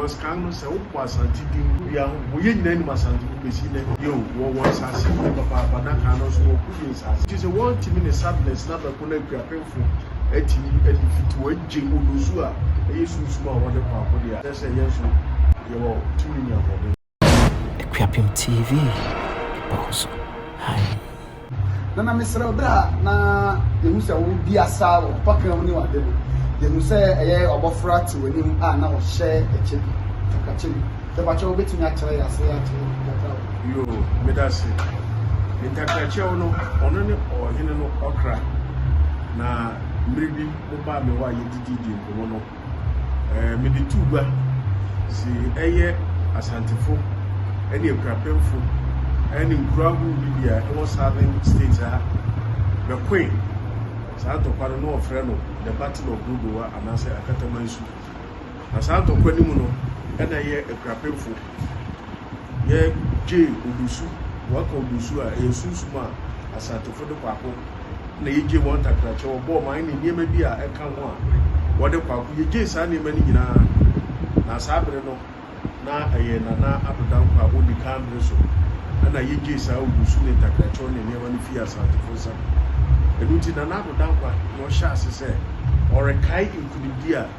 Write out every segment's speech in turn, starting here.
Cos kan no sɛ wopo Asante din gu wia ho mpo yɛn nyinaa nim Asante mu besi nnɛ yeo wɔwɔ nsaase pii papaapa na kan no nso wɔko yie nsaase nti sɛ wɔn timi ne sadness na bɛko na Akuapemfo atimi adefeat wɔn agye Odosu a ɛyɛ sunsum a wɔde kɔ akode a kyerɛ sɛ yɛn nso yɛwɔ tumi ne ahoɔden. Akuapem TV bɔkɔ so ae. Nana mesrɛ wo berɛ a na yɛhu sɛ wo di asa wɔ mpɔka mu ne wade no yɛhu sɛ ɛyɛ ɔbɔfra te w'anim a na ɔhyɛ ɛkyɛ bi takakyɛ bi tɛpakyɛ wo bɛtumi akyerɛ yɛ ase akyerɛ ntakra wo. Yoo meda se ntakrakyɛw no ɔno ne ɔhene no ɔkra na mmere bi mo baa me hɔ a yɛdidi di nkɔmmɔ no. Ɛɛ mede tu gua se ɛyɛ Asantefo ne Akuapemfo ne nkuro ahorow bi bi a ɛwɔ Southern States ha bɛkoe saa ntɔkwa no na wɔfrɛ no The Battle of Dodowa anaasɛ Akatamansu. Na saa ntɔkwa no mu no ɛna ɛyɛ Akuapemfo yɛgye obosu, wɔka obosu a, ɛyɛ sunsum a Asantefo de kwaako na yɛgye wɔn ntakrakyɛ, wɔbɔɔ man ne nneɛma bi a ɛka ho a wɔde kwaako, yɛgye saa nneɛma no nyinaa. Na saa bere no, na ɛyɛ Nana Adodankwa a ɔdi kan bere so na yɛgye saa obosu ne ntakrakyɛ ne nneɛma no fii Asantefo nsam. Ɛno nti Nana Adodankwa na ɔhyɛ ase sɛ ɔrekae nkunimdi a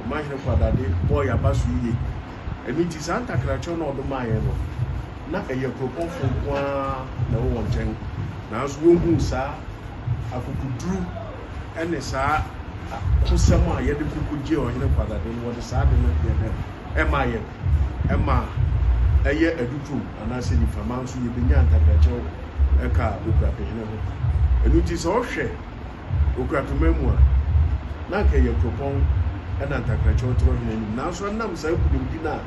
ɔma hɛn kwadade bɔɔ yɛn abaso yie. Ɛno nti, saa ntakrakyerɛ no a ɔde maa yɛn no, na ɛyɛ kuropɔnfo nko ara na ɛwɔ wɔn nkyɛn. Nanso wɔhuu saa akokoduru ne saa akosɛm a yɛde ko kogyee ɔhene kwadade no, wɔde saa ade no yɛɛ dɛn? Ɛmaa yɛn. Ɛmaa ɛyɛ adutoom anaasɛ nifama nso, yɛbɛnyaa ntakrakyerɛ wɔ ɛka a ɔkura pehene ho. Ɛno nti, sɛ wohwɛ. Okura pema mu a, na anka ɛyɛ kuropɔn na ntakrakyɛ ɔtoro hene anim. Nanso ɛnam saa nkunimdi no a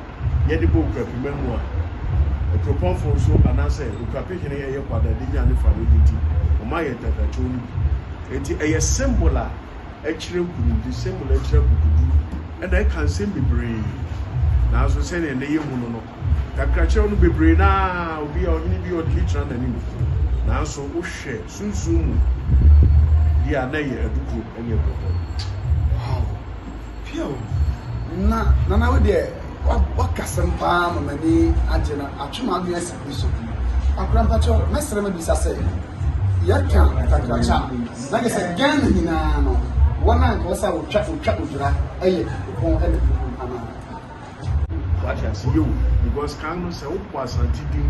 yɛde bɔ okura pema mu a kuropɔnfo nso anaasɛ okurape hene ɛyɛ kwada de nya ne fano di nti, wɔma yɛ ntakrakyɛ no bi. Enti ɛyɛ symbol a ɛkyerɛ nkunimdi, symbol a ɛkyerɛ akokoduru, ɛna ɛka nsɛm bebree. Nanso sɛnea nnɛ yɛhu no no, Nkakrakyerɛw no bebree no ara obi a ɔnyene bi ɔde bɛgyina n'anim. Nanso wohwɛ sunsum mu deɛ a, na ɛyɛ adukuro ne ɛbɔbɔ. Wow! Phew! Na Nana wo deɛ wakasɛm paa ma m'ani agye na atwe m'adwene asi Kristo ho. Akora mpakyɛ mɛsrɛ mabisa sɛ, yɛka nkakrakyɛ a, na kyɛ sɛ Ghana nyinaa no, wɔn a nka wɔsɛ a wɔtwa odwira yɛ Nkrupɔn ne Krupɔn anaa? Wate ase yɛ o because kan no sɛ wopɔ asante din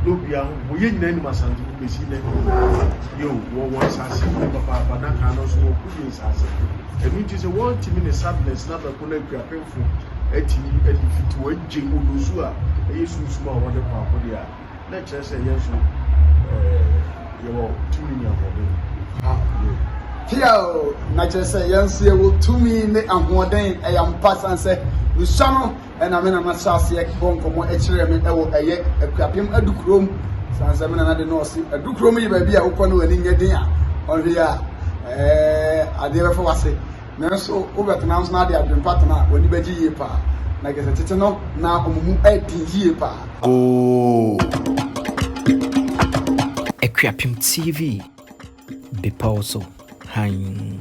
na obia ho bɔ yɛ nyinaa nim asante no bɛsi nɛ yɛ o wɔwɔ nsase bi papaapa na kan no nso wɔko yɛ nsase ɛno nti sɛ wɔntumi ne sadness na bɛko no akuapemfo atumi de fiti wɔagye odosu a ɛyɛ sunsum a wɔde kɔ akode a na ɛkyerɛ sɛ yɛn nso yɛwɔ tumi ne ahoɔden. Tia o, na kyerɛ sɛ yɛn nso yɛwɔ tumi ne ahoɔden. Ɛyɛ ampa san sɛ nsa no ɛna me nana hyɛ aseɛ bɔ nkɔmmɔ ɛkyerɛ me ɛwɔ ɛyɛ akuapem adukurom san sɛ me nana de no ɔse adukurom yɛ baabi a wokɔ no w'ani nyɛ den a ɔhwɛ a ɛɛ adeɛ bɛfa wase Nanso wobɛtena nso na de adwempa tena a, w'ani bɛgye yie paa. Na kyerɛ sɛ tete no, na wɔn mu den yie paa. Ooh. Akuapem TV, Bepɔw so Hann.